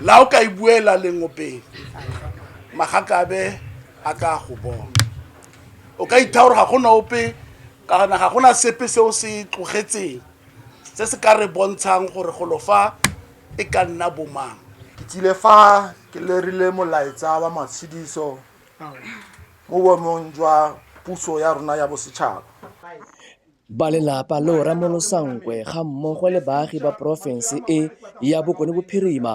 la o ka e buela lengopeng magakabe a ka go bona o ka itha gore ga gona ope ka gona ga gona sepe se o se tlogetseng se se ka re bontshang gore golo fa e ka nna bomang ke tsile fa ke lerile molaetsa wa matshediso mo boemong jwa puso ya rona ya bosetšhaba Balelapa le Oramolosa Nkwe ga mmogo le baagi ba porofense e ya Bokone Bophirima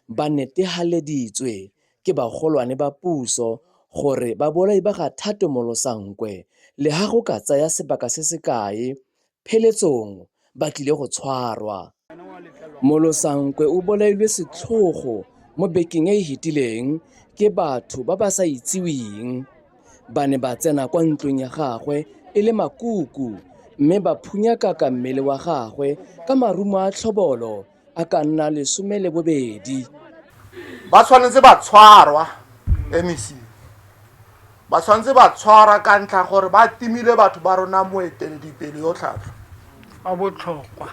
ba netehaleditswe ke bagolwane ba puso gore babolai ba ga Thato Molosa Nkwe leha go ka tsaya sebaka se se kae pheletsong ba tlile go tshwarwa. Molosankwe o bolailwe setlhogo mo bekeng e e fetileng ke batho ba ba sa itseweng ba ne ba tsena kwa ntlong ya gagwe e le makuku mme ba phunyakaka mmele wa gagwe ka marumo a tlhobolo a ka nna lesome le bobedi. Ba tshwanetse ba tshwarwa, MEC. ba tshwanetse ba tshwara ka ntlha gore ba timile batho ba rona moeteledipele yo tlhatlho a botlhokwa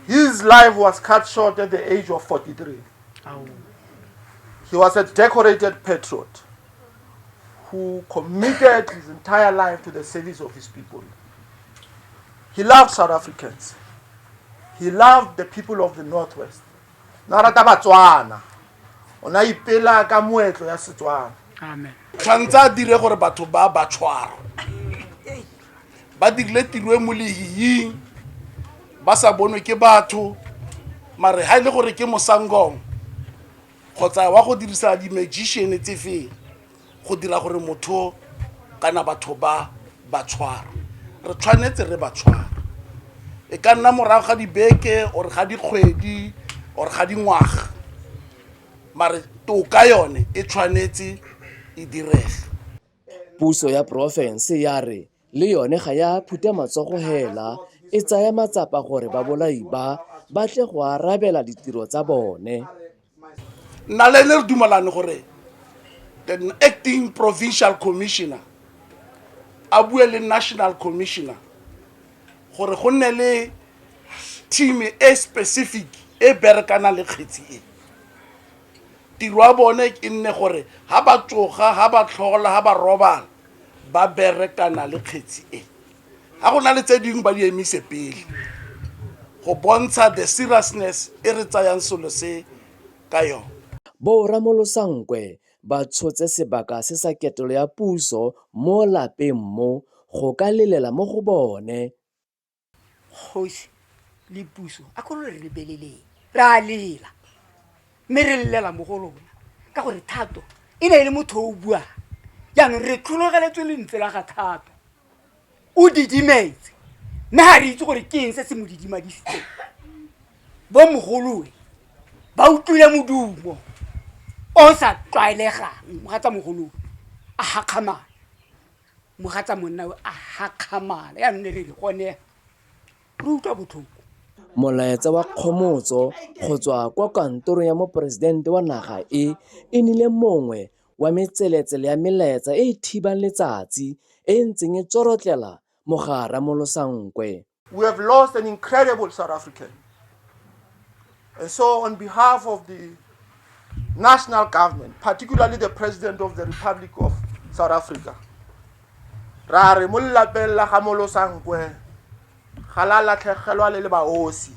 his life was cut short at the age of 43 he was a decorated patriot who committed his entire life to the service of his people he loved south africans he loved the people of the northwest na rata batswana o ne a ipela ka moetlo ya setswana amen tshwanetse a dire gore batho ba ba tshwara ba dirile tiro e mo lehiying ba sa bonwe ke batho mare ga e le gore ke mosangong kgotsa wa go dirisa di-magician tse feng go dira gore motho kana batho ba ba tshwara re tshwanetse re ba tshwara e ka nna morago ga dibeke or ga dikgwedi or ga dingwaga mare toka yone e tshwanetse e direge puso ya porofense ya re Le yone ga ya phuta matsogo hela, e tsaya matsapa gore babolai ba ba tle go arabela ditiro tsa bone. Nna le ene re dumalane gore the acting provincial commissioner a bue le national commissioner gore go nne le team e specific e berekana le kgetsi e. tiro ya bone e nne gore ha ba tsoga ha ba tlhola ha ba robala ba berekana le kgetsi e ga go na le tse dingwe ba di emise pele go bontsha the seriousness e re tsayang selo se ka yone bo ramolosankwe ba tshotse sebaka se sa ketelo ya puso mo lapeng mo go ka lelela mo go bone kgosi le puso a kgolo re lebeleleng re a lela mme re lelela mo go lona ka gore thato e ne e le motho o buang jaanong re tlhologeletswe lentswe la ga thato o didimetse mme ga re itse gore ke eng se se mo didimadisitseng bo mogoloe ba utlwile modumo o sa tlwaelegang ga tsa mogoloe a gakgamana mogatsa monna o a gakgamala ya nne re gone re utlwa botlhoko Molaetsa wa kgomotso go tswa kwa kantorong ya Moporesidente wa naga e e nile mongwe wa metseletsele ya melaetsa e e thibang letsatsi e e ntseng e tsorotlela mogare ramolosankwe. We have lost an incredible South African. And so, on behalf of the national government, particularly the President of the Republic of South Africa, ra re mo lelapeng la ga molosankwe ga la latlhegelwa le le baosi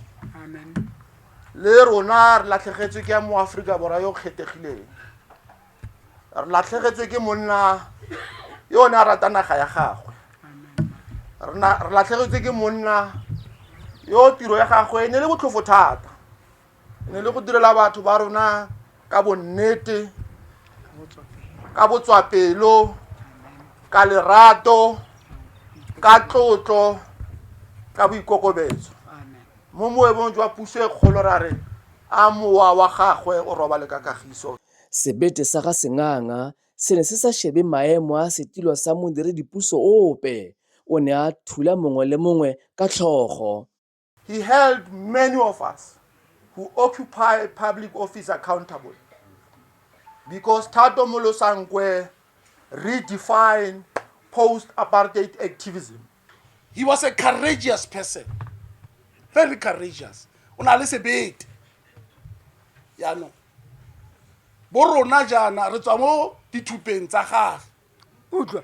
le rona re latlhegetswe ke ya mo aforika borwa yo kgethegileng re latlhegetswe ke monna yo o ne a rata naga ya gagwe re na- re latlhegetswe ke monna yo tiro ya gagwe e ne le botlhofo thata e ne le go direla batho ba rona ka bonnete ka botswapelo ka lerato ka tlotlo ka boikokobetso mo moemong jwa puso e kgolo ra re a mowa wa gagwe o robale ka kagiso Sebete sa ga Senganga se ne se sa shebe maemo a setilo sa modiredipuso ope, o ne a thula mongwe le mongwe ka tlhogo. He held many of us who occupy public office accountable because Thato Molosankoe redefined post-apartheid activism. he was a courageous person very courageous o na le sebete yaanong bo rona jaana re tswa mo dithupeng tsa gage utlwa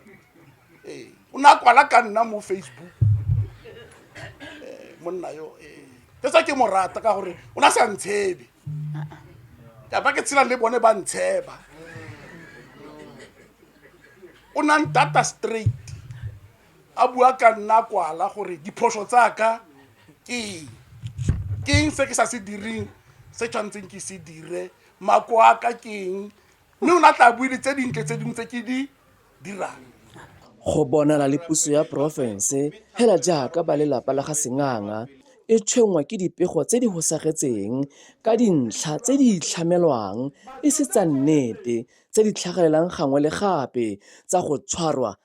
ee o ne a kwala ka nna mo facebook ee monna yo ee ke sa ke mo rata ka gore o ne a sa ntshebe ka ba ke tshelang le bone ba ntsheba o na ntata straight a bua ka nna kwala gore diphoso tsaka ke eng ke eng se ke sa se direng se tshwanetseng ke se dire mako a ka ke eng mme o ne a tla bue le tse dintle tse dingwe tse ke di dirang go bonala le puso ya porofense fela jaaka ba lelapa la ga senganga e tshwenngwa ke dipego tse di hosagetseng ka dintlha tse di itlhamelwang e se tsa nnete tse di tlhagelelang gangwe le gape tsa go tshwarwa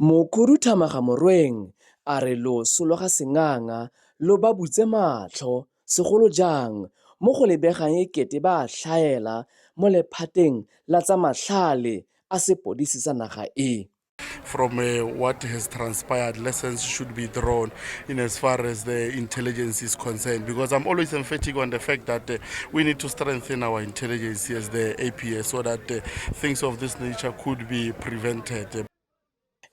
Mokhuduthamaga Morweng a re loso lwa ga Senganga lo ba butse matlho, segolo jang mo go lebegang e kete ba a tlhaela mo lephateng la tsa matlhale a sepodisi sa naga e. From what has transpired lessons should be drawn in as far as the intelligence is concerned because I'm always emphatic on the fact that uh, we need to strengthen our intelligence as the APS so that uh, things of this nature could be prevented.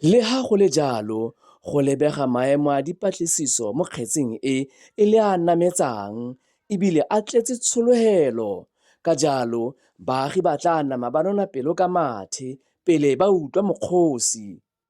Le ha go le jalo, go lebega maemo a dipatlisiso mo kgetseng e e le a nametsang ebile a tletse tshologelo. Ka jalo, baagi ba tla nama ba nona pelo ka mathe pele ba utlwa mokgosi.